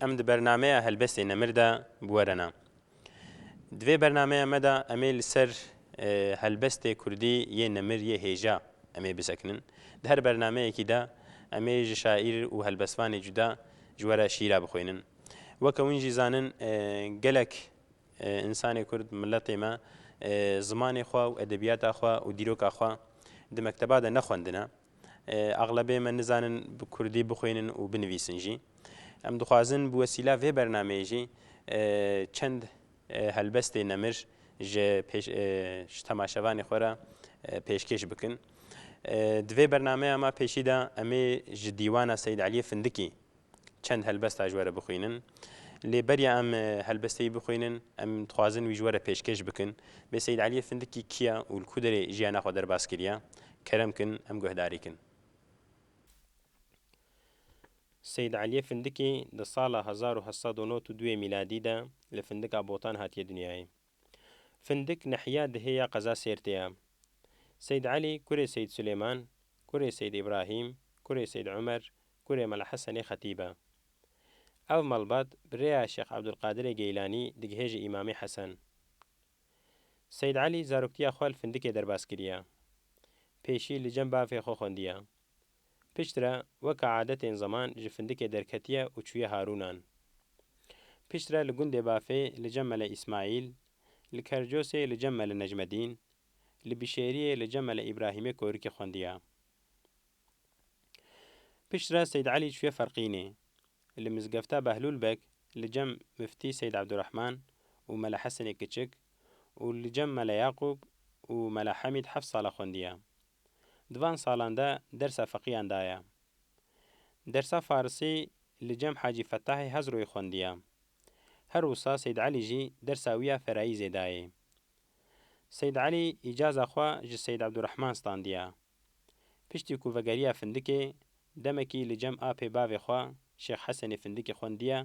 Em di bernameya Helbestê Nemir de bi we re ne. Di vê bernameya me de em ê li ser helbestê kurdî yê Nemir yê hêja em ê bisekinin. Di her bernameyekî de em ê ji şaîr û helbestvanê cuda ji we re şîîra bixwînin. Weke win jî zanin gelek însanê kurd, miletê me zimanê xwe û edebiyata xwe û dîroka xwe di mekteba de nexwendine. Exlebê me nizanin bi kurdî bixwînin û binivîsin jî. Em dixwazin bi wesîla vê bernameyê jî çend helbestê nemir ji temaşevanê xwe re pêşkêş bikin. Di vê bernameya me pêşî de em ê ji dîwana Seyîd Elî Findikî çend helbesta ji we re bixwînin. Lê beriya em helbesteyî bixwînin, em dixwazin wî ji we re pêşkêş bikin. Bê Seyîd Eliyê Findikî kî ye û li ku derê jiyana xwe derbas kiriye? Kerem kin em guhdarî kin. Seyîd Eliyê Findikî di sala hezar û heşt sed û nod û duyê mîladî de li Findika Botan hatiye dinyayê. Findik nehiya dihê ya qeza Sêrtê ye. Seyd Elî kurê Seyd Silêman, kurê Seyd Îbrahîm, kurê Seyd Umer, kurê Mela Hesenê xetîb e. Ev malbat bi rêya Şêx Ebdulqadirê Geylanî digihê ji Îmamê Hesen. Seyd Elî zaroktiya xwe li Findikê derbas kiriye. Pêşî li cem bavê xwe xwendiye. Piştre weka adetên zeman ji findikê derketiye û çûye Harûnan. Piştre li gundê Bafê li cem Mele Îsmaîl, li Kercosê li cem Mele Necmedîn, li Bîşêriyê li cem Mele Îbrahîmê korikê xwendiya. Piştre Seyd Elî çûye Ferqînê. Li Mizgefta Behlûl Beg li cem Miftî Seyd Ebdurehman û Mele Hesenê Kiçik û li cem Mele Yaqûb û Mele Hemîd heft sala xwendiya. Di van salan de dersa feqîyan daye. Dersa farisî li cem Hacî Fetahê Hezroyê xwendiye. Her wisa Seyd Elî jî dersa wî ya ferayîzê dayê. Seyd Elî îcaza xwe ji Seyd Ebdurehman standiye. Piştî ku vegeriya Findikê, demekî li cem apê bavê xwe Şêx Hesenê Findikê xwendiye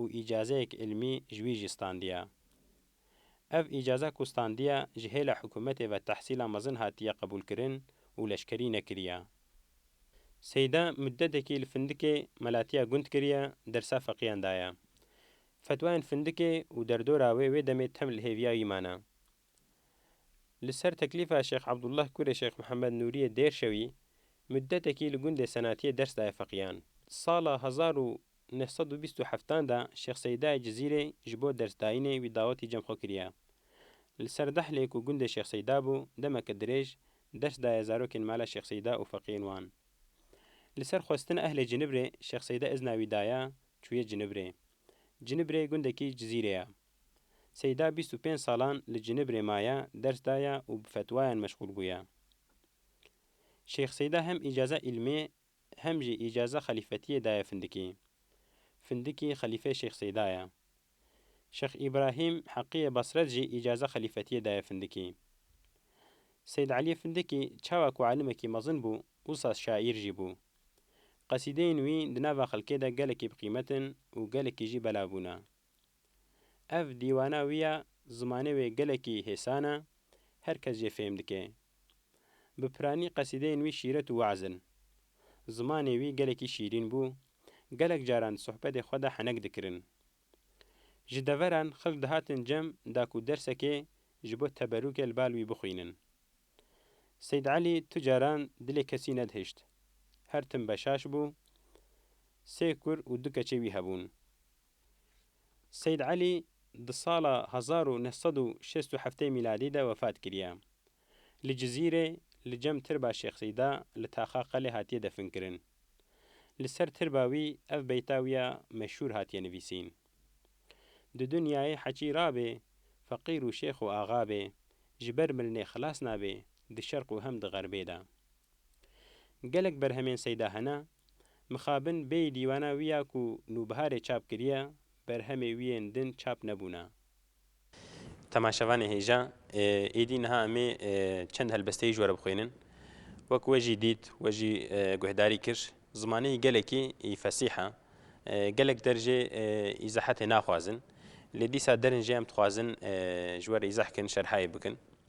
û îcazeyek îlmî ji wî jî standiye. Ev îcaza ku standiya ji hêla hikûmetê ve tehsîla mezin hatiye qebûlkirin û leşkerî nekiriye. Seyda muddetekî li Findikê melatiya gund kiriye, dersa feqîyan daye. Fetwayên Findikê û derdora wê wê demê tem li hêviya wî mane. Li ser teklîfa Şêx Abdullah kurê Şêx Mihemed Nûriyê Dêrşewî, muddetekî li gundê Senatiyê ders daye feqîyan. Sala hezar û Di neh sed û bîst û heftan de Şêx Seydayê Cizîrê ji bo dersdayînê wî dawetî cem xwe kiriye. Li ser Dehlê ku gundê Şêx Seyda bû, demeke dirêj ders daye zarokên mala Şêx Seyda û feqiyên wan. Li ser xwestina ehlê Cinibrê Şêx Seyda izna wî daye çûye Cinibrê. Cinibrê gundekî Cizîrê ye. Seyda bîst û pênc salan li Cinibrê maye, ders daye û bi fetwayan meşxûl bûye. Şêx Seyda hem îcaza îlmê Hem jî îcaza xelîfetiyê daye Findikî. Findikî xelîfeyê Şêx Seyda ye. Şêx Îbrahîm Heqiyê Basret jî îcaza xelîfetiyê daye Findikî. Seyd Elî Findikî çawa ku alimekî mezin bû, wisa şaîr jî bû. Qesîdeyên wî di nava xelkê de gelekî bi qîmet in û gelekî jî belav bûne. Ev dîwana wî ya zimanê wê gelekî hêsan e, her kes jê fêm dike. Bi piranî qesîdeyên wî şîret û we'z in. Zimanê wî gelekî şîrîn bû, gelek caran di sohbetê xwe de henek dikirin. Ji deveran xelk dihatin cem da ku dersekê ji bo teberûkê li bal wî bixwînin. Seyd Elî tu caran dilê kesî nedihişt. Her tim beşaş bû. Sê kur û du keçê wî hebûn. Seyîd Elî di sala hezar û neh sed û şêst û heftê mîladî de wefat kiriye. Li Cizîrê li cem tirba Şêx Seyda li Taxa Qelê hatiye definkirin. Li ser tirba wî ev beyta wî ya meşhûr hatiye nivîsîn. Di dinyayê heçî rabê, feqîr û şêx û axa bê, ji ber milinê xilas nabê, di şerq û hem di xerbê de. Gelek berhemên Seyda hene. Mixabin bêyî dîwana wî ya ku nûbiharê çap kiriye, berhemê wî yên din çap nebûne. Temaşevanê hêja, êdî niha em ê çend helbesteyî ji we re bixwînin. Wek we jî dît, we jî guhdarî kir. Zimanê gelekî î fesîh e. Gelek der jê îzahatê naxwazin. Lê dîsa derin jê em dixwazin ji we re îzah kin, şerhayê bikin.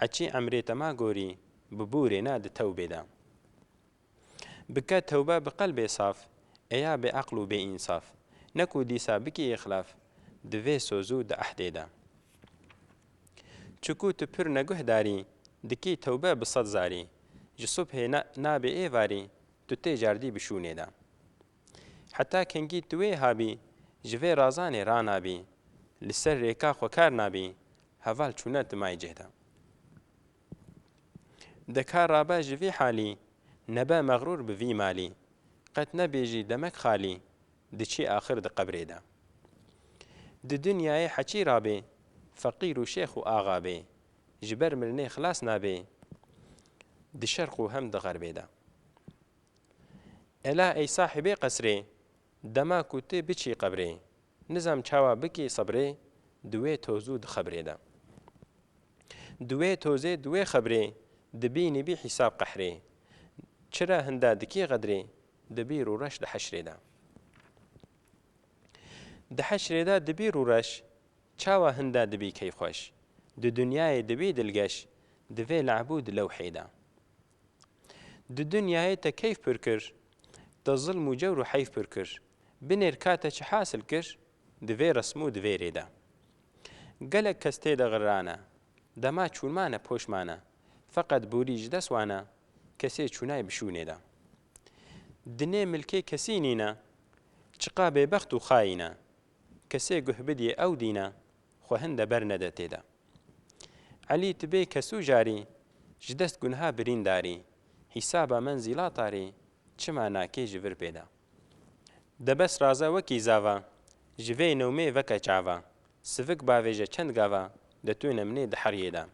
Heçî emrê te ma gorî bi bûrê ne di tewbê de. Bike tewbe bi qelbê saf ê ya bêeql û bêînsaf ne ku dîsa bikî îxlaf di vê soz û di ehdê de. Çiku tu pir neguhdarî dikî tewbe bi sed zarî ji subhê ne nabê êvarî tu tê cardî bi şûnê de. Heta kengî tu wê habî ji vê razanê ranabî li ser rêka xwe kar nabî Heval çûne di maycê de. De kar rabe ji vî halî. Nebe mexrûr bi vî malî. Qet nebêjî demek xalî. Diçî axir di qebrê de. Di dinyayê heçî rabê. Feqîr û şêx û axa bê. Ji ber mirinê xilas nabê. Di şerq û hem di xerbê de. Ela ey sahibê qesrê. Dema ku ti biçî qebrê. Nizam çawa bikî sebrê di wê toz û di xebrê de. Di wê tozê di wê xebrê di bînî bî hîsab qehrê. Çira hinda dikî xedrê di bîr û reş di heşrê de. Di heşrê de di bîr û reş çawa hinda di bî keyxweş. Di dinyayê di bî dilgeş di vê le'b û di lewhê de. Di dinyayê te keyf pir kir, te zilm û cewr û heyf pir kir. Binêr ka te çi hasil kir, di vê resim û di vê rê de. Gelek kes tê de ğirrane, dema çûn mane poş mane, feqet borî ji dest wane, kesê çûnay bi şûnê de. Dinê milkê kesî nîne, çiqa bêbext û xayîne, kesê guh bidiyê ew dîne, Xwe hin de ber nede tê de. Elî tu bê kesû jarî. Ji dest gunha birîn darî. Hîsaba menzîla tarî. Çima nakê ji vir pê de. De bes raze wekî zava. Ji vê newmê veke çava. Sivik bavêje çend gava. De tu nemnê di heriyê de.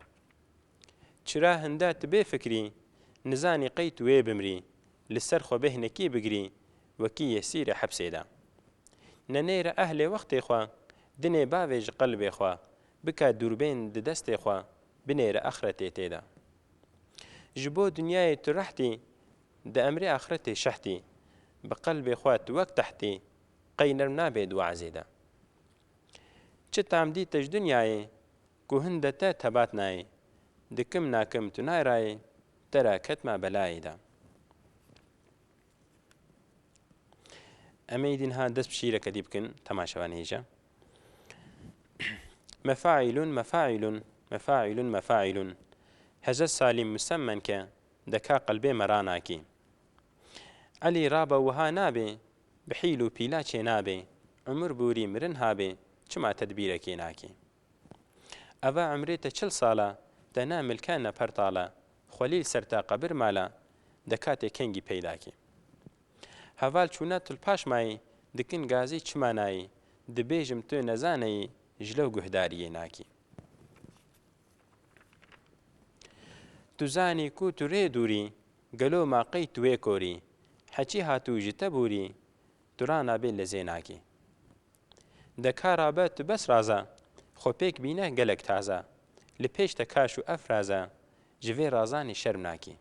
Çira hinda tu bê fikrî, nizanî qey tu wê bimrî, li ser xwe bêhnekî bigirî, wekî yê sîrê hepsê de. Nenê re ehlê wextê xwe, dinê bavê ji qelbê xwe, bike dûrbên di destê xwe, binêre axretê tê de. Ji bo dinyayê tu rehtî, di emrê axretê şehtî, bi qelbê xwe tu wek tehtî, qey nerm nabê di we'zê de. Çi tam dî te ji dinyayê, Ku hin de te tebat nayê. Dikim nakim tu nay rayê. Te ra ketma belayê de. Em ê îdîn ha dest bi şîîreke dî bikin, temaşe ben hêja. Mefaîlun mefaîlun mefaîlun mefaîlun heze salîm musemmen ke deka qelbê me ranakî. Elî rabe wiha nabê, bi hîl û pîla çênabê, umur bûrî mirin habê, çima tedbîrekê nakê. Eva umrê te çil sal e, te ne milke ne pertal e, xwelîl ser te qebir mal e, deka tê kengî peyda kî. Heval çûna tu li paş mayî, dikin gazî çima nayî, dibêjim tu nezaneyî, ji lew guhdariyê nakî. Tu zanî ku tu rê dûrî, gelo ma qey tu wê korî, heçî hatû ji te bûrî, tu rana bê lezê nakî. De ka rabe tu bes raze. Xwe pêk bîne gelek taze. Li pêş te kaş û efraze. Ji vê razanê şerm nakî.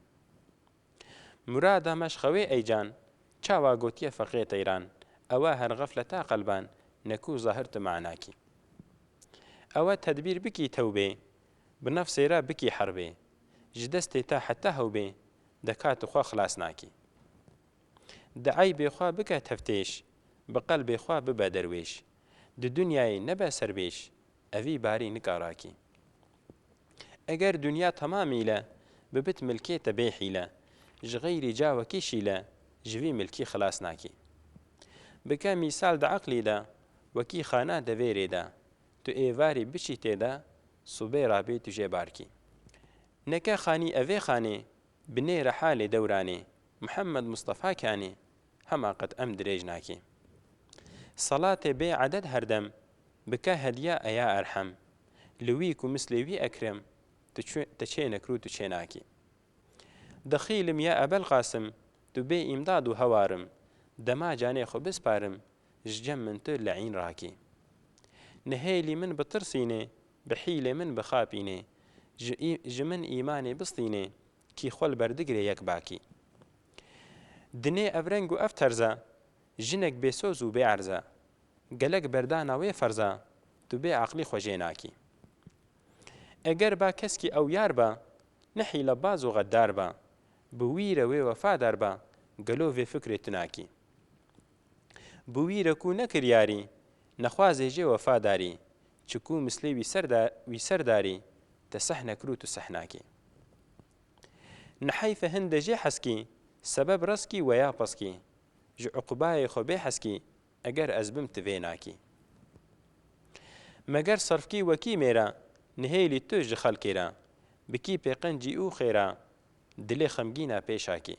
Murada me şxewê ey can. Çawa gotiye feqê teyran. Ewe her xefleta qelban. Ne ku zahir tu manakî. Ewe tedbîr bikî tewbê. Bi nefsê re bikî herbê. Ji destê te heta hewbê. De ka tu xwe xilas nakî. Di eybê xwe bike teftêş, bi qelbê xwe bibe derwêş. Di dunyayê nebe servêş, evî barî nika rakî. Eger dunya tema mîle, bibit milkê te bê hîle. Ji xeyrî cawekî şîle, ji vî milkî xilas nakî. Bike mîsal di eqlî de, wekî xana devêrê de. Tu êvarî biçî tê de, subê ra bê tu jê barkî. Neke xanî evê xanê, binê re halê dewranê, Muhammed Mustafa Kanî, Hema qet em dirêj nakî. Salatê bê eded herdem, bike hediya eya erhem. Li wî ku mislê wî ekrim, tu çê nekir û tu çê nakî. Dixîlim ya Ebel Qasim, tu bê îmdad û hewar im, dema canê xwe bisparim, ji cem min tu leîn rakî. Nihêlî min bitirsînê, bi hîlê min bixapînê, ji ji min îmanê bistînê, Kî xwe li ber digire yek bakî. Dinê ev reng û ev terza. Jinek bêsoz û bêerza. Gelek berdana wê ferza. Tu bê aqlî xwe jê nakî. Eger ba keskî ew yar ba. Ne hîlebaz û xeddar ba. Bi wî re wê wefadar ba. Gelo vê fikrê tu nakî. Bi wî re ku ne kiryarî, nexwazê jê wefa darî, çi ku mislê wî ser da, wî ser darî, te seh nekir û tu seh nakî. Ni heyfe hin de jê heskî, sebeb reskî weya peskî, ji uqubayê xwe bê heskî, eger ez bim ti vê nakî. Meger serfkî wekî mêra, nihêlî tu ji xelkê ra, bikî pê qencî û xêra, dilê xemgîna pêşakî.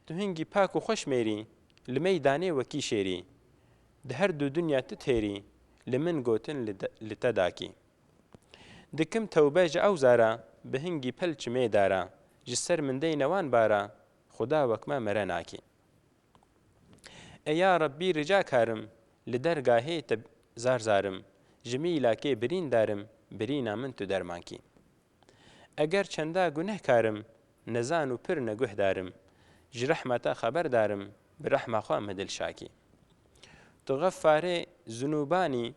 Tu hingî pak û xweş mêrî. Li mey danê wekî şêrî. Di her du dinya tu têrî. Li min gotin li te dakî. Dikim tewbe ji ew zara. Bi hingî pel çimê dara. Ji ser min deyne wan bara. Xuda wek me mere nakî. Ê ya Rebbî rica karim. Li dergahê te zar zarim. Ji mîlakê birîn darim. Birîna min tu derman kî. Eger çenda gunehkar im, nezan û pir neguhdar im, ji rehma te xeberdar im, bi rehma xwe min dilşakî. Tu xefarê zinûban î,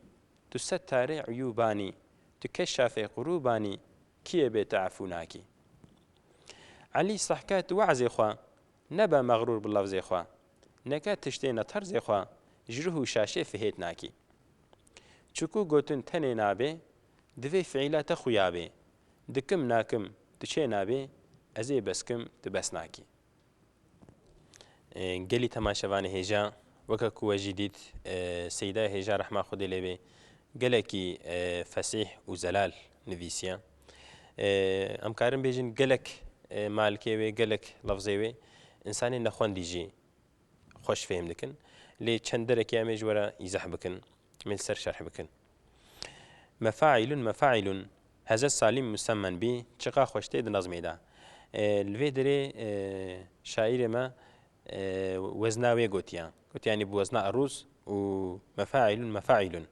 tu settarê uyûban î, tu keşafê qurûban î, kî yê bê te efû nakî? Elî sehke tu we'zê xwe, nebe mexrûr bi lefzê xwe, neke tiştê ne terzê xwe, ji rih û şaşê fihêt nakî. Çiku gotin tenê nabê, Divê fiîla te xuya bê, dikim, nakim, tu çê nabê, ez ê beskim, tu bes nakî. Gelî temaşevanê hêja, weke ku we jî dît Seyîda Hêja rehma Xwedê lê bê gelekî fesîh û zelal nivîsiye. Em karin bêjin gelek malkê wê, gelek lefzê wê, însanê nexwendî jî xweş fêhm dikin lê çend derekê em ê ji we re îzah bikin me li ser şerh bikin. Mefaîlun mefaîlun heze salîm musemmen bî çiqa xweş tê di nazmê de. Li vê derê şaîrê me wezna wê gotiye. Gotiye yanî bi wezna erûz û mefaîlun mefaîlun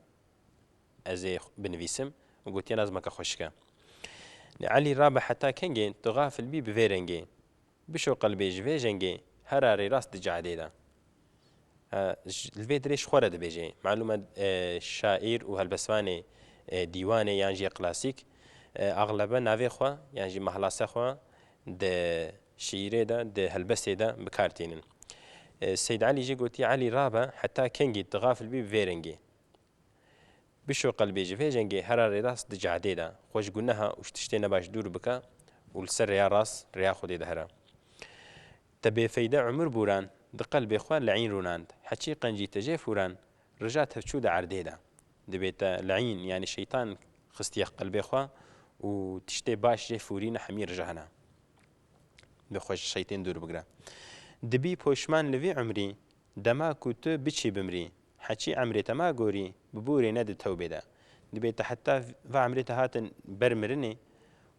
ez ê binivîsim û gotiye nazmeke xweşik e. Elî rabe heta kengê tu xafil bî bi vê rengê. Bişo qelbê ji vê jengê hera rêrast di cehedê de li vê dirê ji xwe re dibêje. Malûm e şaîr û helbestvanê dîwanê yan jî klasîk axlebe navê xwe yan jî mahlase xwe di şîîrê de, di helbestê de bi kar tînin. Seyd Elî jî gotî Elî rabe heta kengî di xafil bî bi vê rengê. Bişo qelbê ji vê jengê hera rêrast di cehdê de xwe ji guneha û ji tiştê nebaş dûr bike û li ser rêya rast, rêya Xwedê de here. Te bêfeyde umur bûran di qelbê xwe le'în rûnand, heçî qencî te jê fûran rija tevçû di erdê de. Divê te le'în yanî şeytan xistiye qelbê xwe û tiştê baş jê fûrîne hemî rija hene. Divê xwe ji şeytên dûr bigire. Dibî poşman li vî umrî. Dema ku tu biçî bimrî, heçî emrê te ma gorî, bi borê ne di tewbê de. Dibê te heta va emrê te hatin ber mirinê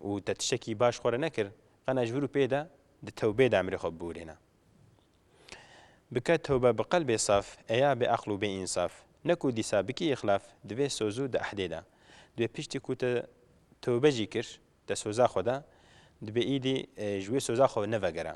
û te tiştekî baş xwe re nekir, qena ji vir û pê de di tewbê de emrê xwe biborêne. Bike tewbe bi qelbê saf, ê ya bêeql û bêînsaf, ne ku dîsa bikî îxlaf, di vê soz û di ehdê de. Dibê piştî ku te tewbe jî kir, te soza xwe da, dibê îdî ji wê soza xwe nevegere.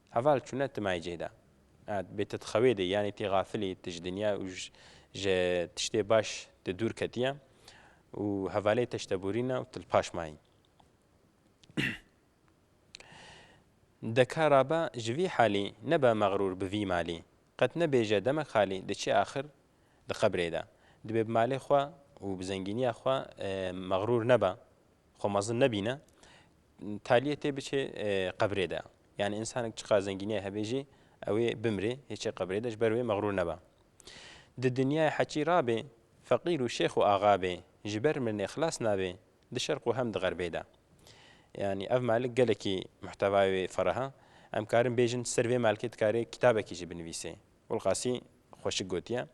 Heval çûne ti mayê cê de. Ed, bê ti di xewê de î, yanî ti xafil î, ti ji dinya û ji tiştê baş de dûr ketiye û hevalê te ji te borîne û ti li paş mayî. De ka rabe ji vî halî, nebe mexrûr bi vî malî. Qet nebêje demek xalî, diçê axir di qebrê de. Dibê bi malê xwe û bi zengîniya xwe mexrûr nebe. Xwe mezin nebîne, taliyê tê biçe qebrê de. Yani insanek çiqar zengîniyê hebe jî ew ê bimrê, hêçê qebrê de ji ber wê mexrûr nebe. Di dinyayê heqî ra bê, feqîr û şêx û axa bê, ji ber mirinê xilas nabê, di şerq û hem di xerbê de. Yani ev malik gelekî muhtewayê wê ferah e. Em karin bêjin ser vê malikê dikarê kitabekî jî binivîsê. Gulqasî xweşik gotiye.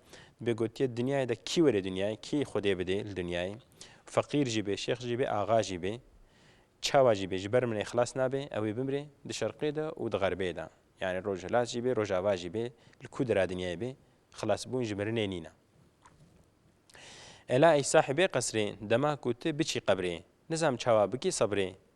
Dibê gotiye dinyayê de kî were dinyayê, kî xwedê bidê li dinyayê. Feqîr jî bê, şêx jî bê, axa jî bê, çawa jî bê ji ber min ê xilas nabe, ew ê bimrê di şerqê de û di xerbê de. Yanî rojhilat jî bê, rojava jî bê, li ku dira dinyayê bê, xilasbûn ji mirinê nîn e. Ela ey sahibê qesrê, dema ku tu biçî qebrê, nizam çawa bikî sebrê,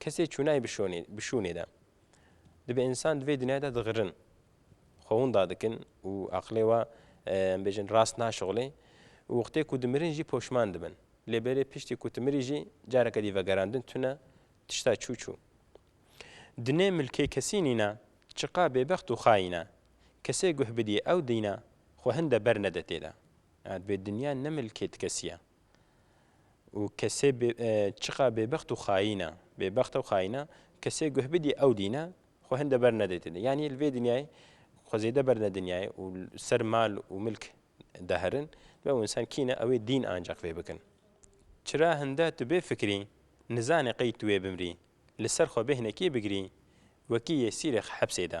Kesê çûnayê bi şûnê, bi şûnê de. Dibe însan di vê dinyayê de digirin. Xwe winda dikin û aqilê we em bêjin rast naşixulê û wextê ku dimirin jî poşman dibin. Lê belê piştî ku tu mirî jî careke dî vegerandin tune tişta çû çû. Dinê milkê kesî nîne, çiqa bêbext û xayîn e. Kesê guh bidî ew dîne, xwe hin de bernede tê de. Divê dinya ne milkê ti kesî ye. Û kesê bê çiqa bêbext û xayîn e, bêbext e û xayîn e, kesê guh bidî ew dîne xwe hin de ber nede tê de. Yanî li vê dinyayê xwe zêde ber ne dinyayê û li ser mal û milk diherin, dibe ew însan kî ne ewê dîn ancaq vê bikin. Çira hin de tu bê fikirî, nizanê qey tu wê bimrî, li ser xwe bê hinekiyê bigirî, wekî yê sîrêx hepsê de.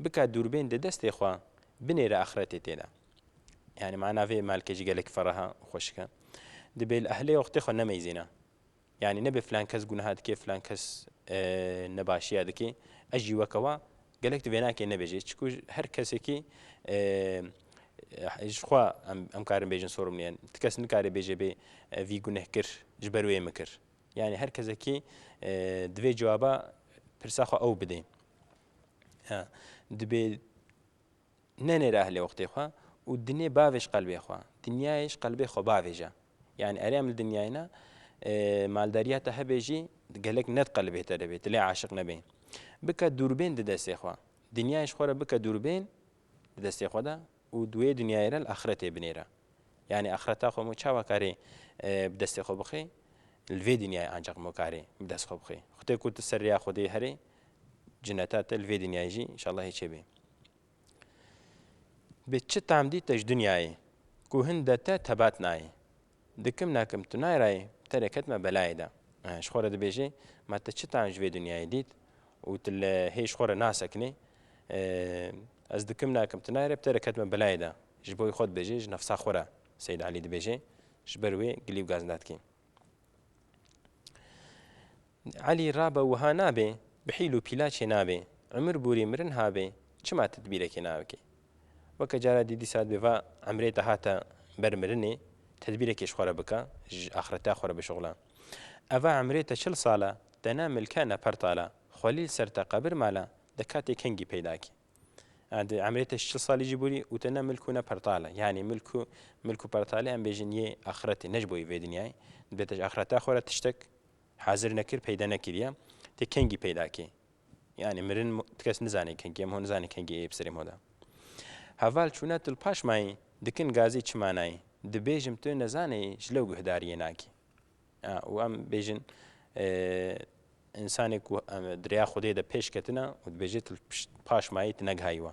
Bike dûrbên di destê xwe, binêre axretê tê de. Yanî mana vê malkê jî gelek feraha û xweşik e. Dibê li ehlê wextê xwe nemeyzîne. Yanî nebê filan kes gunaha dike, filan kes nebaşiya dike. Ez jî weke we gelek di vênakê nebêje. Çiku her kesekî ji xwe em em karin bêjin sorim nîye. Ti kes nikare bêje bê vî guneh kir ji ber wê min kir. Yanî her kesekî divê cewaba pirsa xwe ew bidê. Ha, dibê nenêre ehlê wextê xwe û dinê bavê ji qelbê xwe. Dinyayê ji qelbê xwe bavêje. Yani erê em li dinyayê ne maldariya te hebe jî gelek ne di qelbê te de bê, tu lê aşiq nebê. Bike dûrbên di destê xwe. Dinyayê ji xwe re bike dûrbên bi destê xwe de û di wê dinyayê re li axiretê binêre. Yanî axireta xwe hemû çawa karê bi destê xwe bixî? Li vê dinyayê ancaq hemû karê bi dest xwe bixî. Xwedê ku tu ser rêya Xwedê herî, cineta te li vê dinyayê jî înşallah hê çêbê. Bi çi tam dîte ji dinyayê ku hin de te tebat nayê? Dikim nakim tu nayê rayê, terê ket me belayê de. Ji xwe re dibêjê, ma ti çi tayan ji vê dinyayê dît û tu li hê ji xwe re nasekinî. Ez dikim nakim tu nayê rê bi terê ket me belayê de. Ji boyê xwe dibêjê, ji nefsa xwe re Seyîd Elî dibêjê. Ji ber wê gilî û gazinda dikî. Elî rabe wiha nabe, bi hîl û pîlaçê nabe, Umir bûrî mirin habe, çima tedbîrekê nabike? Weke cara dî dîsa bi va emrê de hate ber mirinê, tedbîrekê ji xwe re bike, ji axreteya xwe re bişuxile. Eva emrê te çil sal e, te ne milk e ne pertal e, xwelîl ser te qebir mal e, di katê kengî peyda kî. Di emrê te ji çil salî jî bûrî û te ne milk û ne pertal e. Yanî milk û milk û pertalê em bêjin yê axretê, ne ji bo yê vê dinyayê. Dibê te ji axreteya xwe re tiştek. Hazir nekir peyda nekiriye. Tê kengî peyda kê. Yanî mirin ti kes nizanê kengî em ho nizanê kengî ê bi serê mo de. Heval çûna tu li paş mayî dikin gazî çi manayî dibêjim tu nezaneyî ji lew guhdariyê nakî. A û em bêjin însanê ku em di rêya Xwedê de pêş ketine û dibêje tu li paş mayî tu negihayiwe.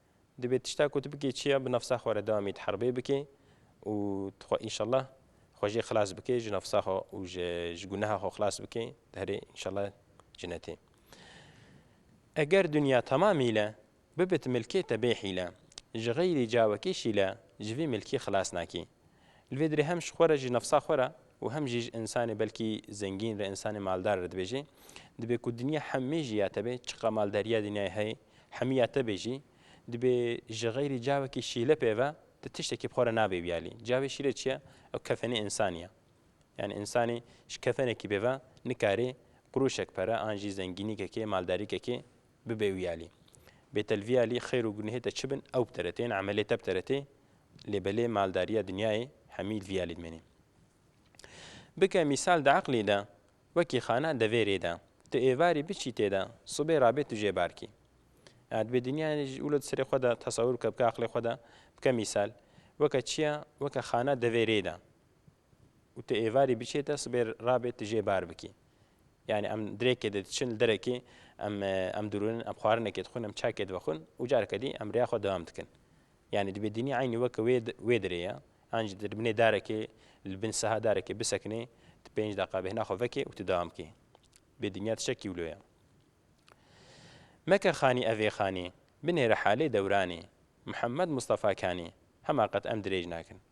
Dibê tişta ku tu bikî çi ye bi nafsa xwe re dewamî di herbê bikî û tu xwe înşellah xwe jê xilas bikî ji nafsa xwe û ji guneha xwe xilas bikî di herê înşellah cinetê. Eger dinya temam hîle bibit milkê te bê hîle ji xeyrî cawekî şîle ji vî milkî xilas nakî. Li vê dirê hem ji xwe re ji nefsa xwe re û hem jî ji însanê belkî zengîn re însanê maldar re dibêjî, dibê ku dinya hemî jî ya te bê, çiqa maldariya dinyayê heye hemî ya te bê jî, dibê ji xeyrî cavekî şîle pê ve tu tiştekî bi xwe re nabê biyalî. Cavê şîle çi ye? Ew kefenê însanî ye. Yanî însanî ji kefenekî pê ve nikarê qurûşek pere an jî zengînîkekê, maldarîkekê Bibe wî alî. Bêtel vî alî xêr û gunehê te çi bin ew bi te re tê yên emelê te bi te re tê lê belê maldarîya dinyayê hemî li vî alî dimenê. Bike mîsal di eqlî de wekî xana devêrê de tu êvarî biçî tê de sibê rabê tu jê barkî. Ya dibê dinyayê de jî wilo di serê xwe de tesewir bike bike eqlê xwe de bike mîsal weke çiya weke xana devêrê de. û tu êvarî biçî te sibê rabê tu jê bar bikî. Yani em dirêkê de diçin li derekê em em dirûnin em xwarinekê dixwin em çakê divexwin û careke dî em rêya xwe dewam dikin. Yani di bêdînî eynî weke wê wê dirê ye. An jî di li binê darekê li bin siha darekê bisekinê tu pênc deqa bêhna xwe vekê û tu dewam bikî. Bêdîniya tişek kîwlo ye. Meke xanî evê xanî, binêre halê dewranî, Mihemed Mistefa Kanî, hema qet em dirêj nakin.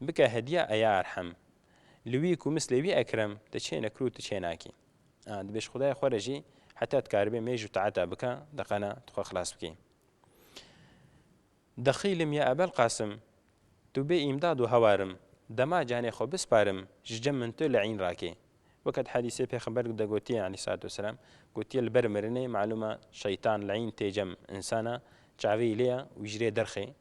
Bike hediya e ya erhem. Li wî ku mislê wî ekrem, te çê nekir û tu çê nakî. A, dibê ji xwedayê xwe re jî heta dikaribê mêj û taeta bike, di qena tu xwe xilas bikî. Dixîlim ya Ebelqasim, tu bê îmdad û hewar im, dema canê xwe bisparim, ji cem min tu li în rakê. Weke di hedîsê pêxember de gotiye aleyh selat û selam, gotiye li ber mirinê malûm e şeytan li în tê cem insana, çaveyî lê ye û ji rê derxê.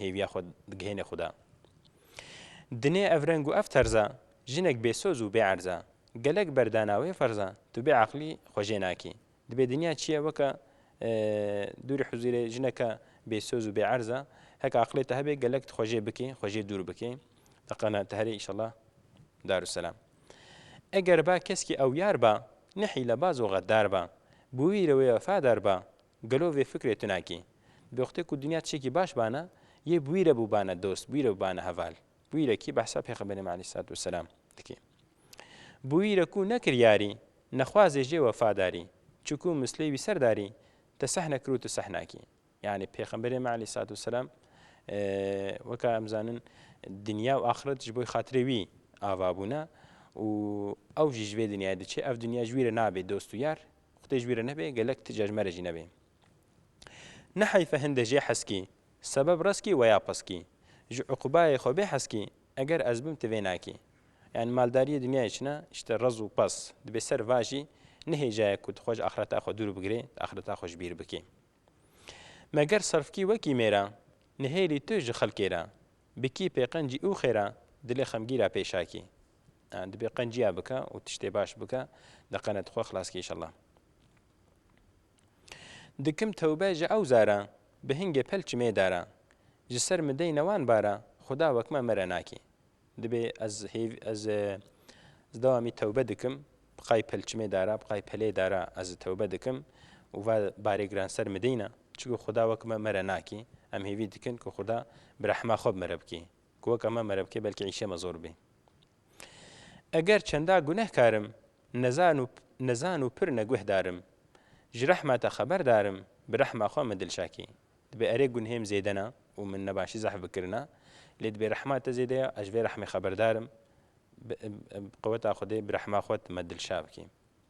Hêviya xwe digihêne Xuda. Dinê ev reng û ev terz a, jinek bêsoz û bêerz a. Gelek berdana wê ferz a, tu bêeqlî xwe jê nakî. Dibê dinya çiye weke dûrî huzîrê jineke bêsoz û bêerz a. Heke aqilê te hebe gelek tu xwe jê bikî, xwe jê dûr bikî. Deqana te herê îşella Darusselam. Eger ba keskî ewyar ba, ne hîlebaz û xeddar ba. Bi wî re wê wefadar ba, Gelo vê fikrê tu nakî? Bêwextê ku dinya tişekî baş bana, yê bi wî re bûbana dost, bi wî re bûbana heval. Bi wî re kî? Behsa pêxemberê me aleyhîsselatu wesselam dikî. Bi wî re ku nekir yarî, nexwazê jê wefa darî, çiku mislê wî ser darî, te seh nekir û tu seh nakî. Yanî pêxemberê me aleyhîsselatu wesselam weka em zanin dinya û axiret ji bo xatirê wî ava bûne û ew jî ji vê dinyayê diçe, ev dinya ji wî re nabê dost û yar, Xwtê ji wî re nebe gelek ti ca ji me re jî nebe. Ne heyfe hinde jê heskî, sebeb reskî weya piskî. Ji uqubayê xwe bê heskî, eger ez bim ti vê nakî. Yan maldariyê dinyayê çin e, işte rez û pez. Dibê ser va jî nihêcaye ku tu xwe ji axireta xwe dûr bigirê, tu axireta xwe ji bîr bikî. Me ger serfkî wekî mêra, nihêlî tu ji xelkê re. Bikî pêqencî û xêra, dilê xemgîra pêşakî. Dibê qenciya bike û tiştê baş bike li qenet xwe xilas ke inşallah. Dikim tewbe ji ew zara, bi hingê pel çimê dara. Ji ser min deyne wan bara, xuda wek me mere nakê. Dibê ez hêv ez ez dewamî tewbe dikim, biqay pel çimê dara, biqay pelê dara ez tewbe dikim û va barê giran ser min deyne. Çiku xuda wek me mere nakê. Em hêvî dikin ku xuda bi rehma xwe bi mere bikê. Ku weka me mere bike belkî îşê me zor bê. Eger çenda gunehkar im, nezan û nezan û pir neguhdar im. Ji rehma te xeberdar im, bi rehma xwe min dilşakî. Dibê erê gunhêm zêde ne û min nebaşî zehf bikirine, lê dibê rehma te zêde ye, ez ji vê rehmê xeberdar im. Bi bi qeweta Xwedê bi rehma xwe tu me dilşa bikî.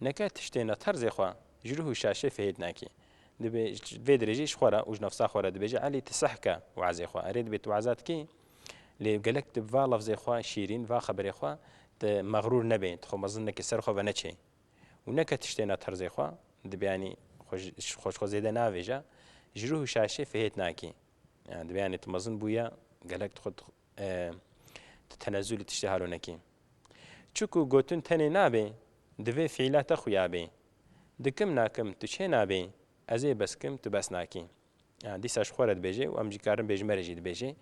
Neke tiştên re terzê xwe ji ruh û şaşê fihêt nakî. Dibê vê dirê jî ji xwe re û ji nefsa xwe re dibêjî Elî tu seh ke wezê xwe. Erê dibê tu weza dikî lê gelek tu bi va lefzê xwe şîrîn, va xeberê xwe tu mexrûr nebê, tu xwe mezin neke ser xwe veneçê. Û neke tiştên re terzê xwe dibê yanî xwe ji xwe zêde neavêje, ji ruh û şaşê fihêt nakî. Dibê yanî tu mezin bûye gelek tu xwe Tu tenezû li tiştê halo nekî. Çiku gotin tenê nabê, divê fiîla te xuya bê. Dikim nakim tu çê nabî, ez ê bes kim tu bes nakî. Dîsa ji xwe re dibêje û em jî karin bêjme re jî dibêje.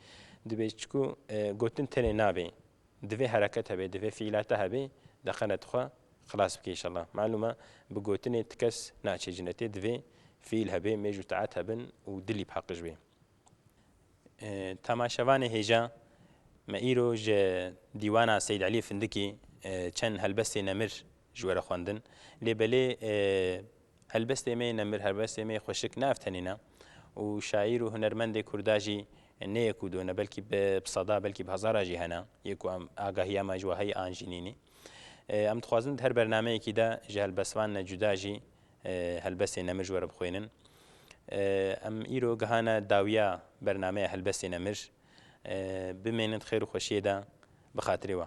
Dibê çiku gotin tenê nabê. Divê hereket hebê, divê fiîla te hebê, deqene tu xwe xilas bikî îşellah. Malûm e bi gotinê ti kes naçê cinetê, divê fiîl hebê, mêj û taet hebin û dilî bi heqij bê. Temaşevanê hêja me îro ji dîwana Seyîd Elî Findikî çend helbestê nemir ji we re xwendin. Lê belê helbestê me nemir, helbestê me xweşik ne ev tenê ne û şaîr û hunermendê Kurda jî ne yek û do ne belkî bi seda belkî bi hezaran jî hene yê ku em agahiya me ji we heye an jî nînî. Em dixwazin di her bernameyekî de ji helbestvan ne cuda jî Helbestên Emir ji we re bixwînin. Em îro gihane dawiya bernameya Helbestên Emir. Bimênin di xêr û xweşiyê de bi xatirê we.